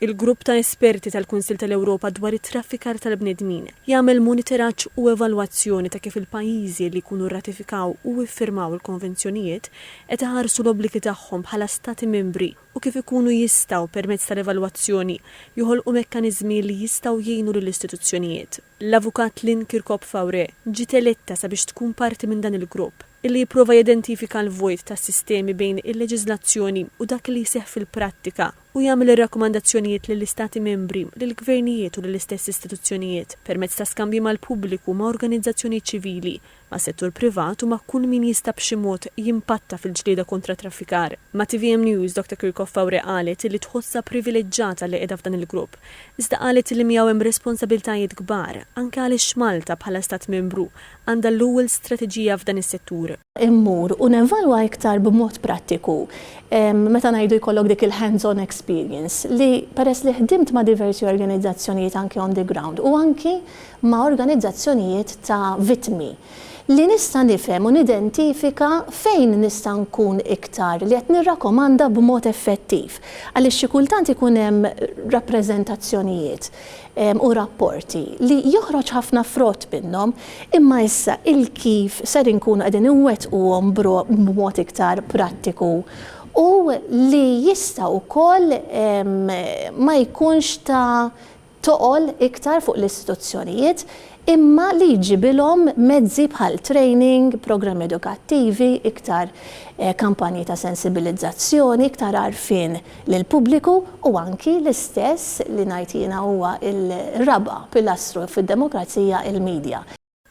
Il-Grupp ta' Esperti tal-Kunsill tal-Ewropa dwar it-Traffikar tal-Bnedmin jagħmel monitoraġġ u evalwazzjoni ta' kif il-pajjiżi li jkunu rratifikaw u iffirmaw il-Konvenzjonijiet qed iħarsu l-obbligi tagħhom bħala Stati Membri u kif ikunu jistgħu, permezz tal-evalwazzjoni, joħolqu mekkaniżmi li jistgħu jgħinu lill-istituzzjonijiet. L-Avukat Lynn Kirkop Faure ġiet eletta sabiex tkun parti minn dan il-grupp, illi jipprova jidentifika l-vojt tas-sistemi bejn il-leġiżlazzjoni u dak li jseħħ fil-prattika u jagħmel ir-rakkomandazzjonijiet lill-Istati Membri, lill-gvernijiet u lill-istess istituzzjonijiet, permezz ta' skambji mal-pubbliku u ma' organizzazzjonijiet ċivili, mas-settur privat u ma' kull min jista' b'xi mod jimpatta fil-ġlieda kontra t-traffikar. Ma' tvm News, Doctor Kirkhoff Faure qalet li tħossha privileġġata li qiegħda f'dan il-grupp, iżda qalet li miegħu hemm responsabiltajiet kbar, anke għaliex Malta, bħala Stat Membru, għandha l-ewwel strateġija f'dan is-settur. Immur u nevalwa iktar b'mod prattiku, meta ngħidu jkollok dik il-hands on experience, li peress li ħdimt ma' diversi organizzazzjonijiet anke on the ground u anke ma' organizzazzjonijiet ta' vittmi, li nista' nifhem u nidentifika fejn nista' nkun iktar li qed nirrakkomanda b'mod effettiv, għaliex xi kultant ikun hemm rappreżentazzjonijiet u rapporti li joħroġ ħafna frott minnhom, imma issa il-kif ser inkunu qegħdin inwettquhom b'mod iktar prattiku u li jista' wkoll ma jkunx ta' toqol iktar fuq l-istituzzjonijiet imma li jġibilhom mezzi bħal training, programmi edukattivi, iktar kampanji ta' sensibilizzazzjoni, iktar għarfien lill-pubbliku u anki l-istess li ngħid jiena huwa l-raba' pilastru fid-demokrazija, il-media.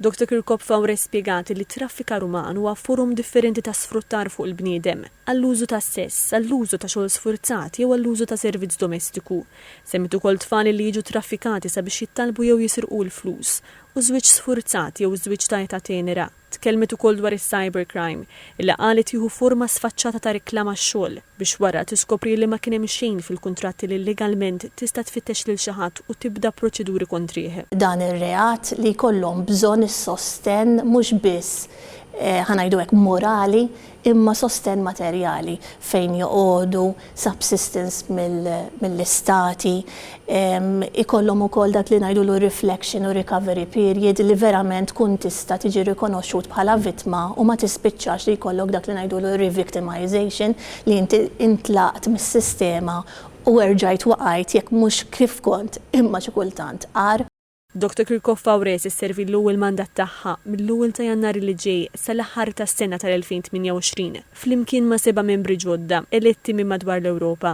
Doctor Kirkop Faure spjegat li t-traffikar uman huwa forom differenti ta' sfruttar fuq il-bniedem, għall-użu tas-sess, għall-użu ta' xogħol sfurzat jew għall-użu ta' servizz domestiku. Semmiet ukoll tfal li jiġu traffikati sabiex jittalbu jew jisirqu l-flus, u żwieġ sfurzat jew żwieġ ta' età tenera. Tkellmet ukoll dwar is-cybercrime. li qalet jieħu forma sfaċċata ta' riklam għax-xogħol biex wara tiskopri li ma kien hemm xejn fil-kuntratti li legalment tista' tfittex lil xi ħadd u tibda proċeduri kontrih. dan ir-reat li jkollhom bżonn is-sostenn mhux biss, ħa ngħidu hekk, morali imma sostenn materjali fejn joqogħdu, subsistence mill-Istati, ikollhom ukoll dak li ngħidulu reflection u recovery period li verament tkun tista' tiġi rikonoxxut bħala vittma u ma tispiċċax li jkollok dak li ngħidulu re-victimisation li inti intlaqt mis-sistema u erġajt waqajt jekk mhux kif kont imma xi kultant agħar. Doctor Kirkopf Aure se sservi l-ewwel mandat tagħha mill-ewwel ta' Jannar li ġej sal-aħħar tas-sena tal-2028, flimkien ma' seba' membri ġodda eletti minn madwar l-Ewropa.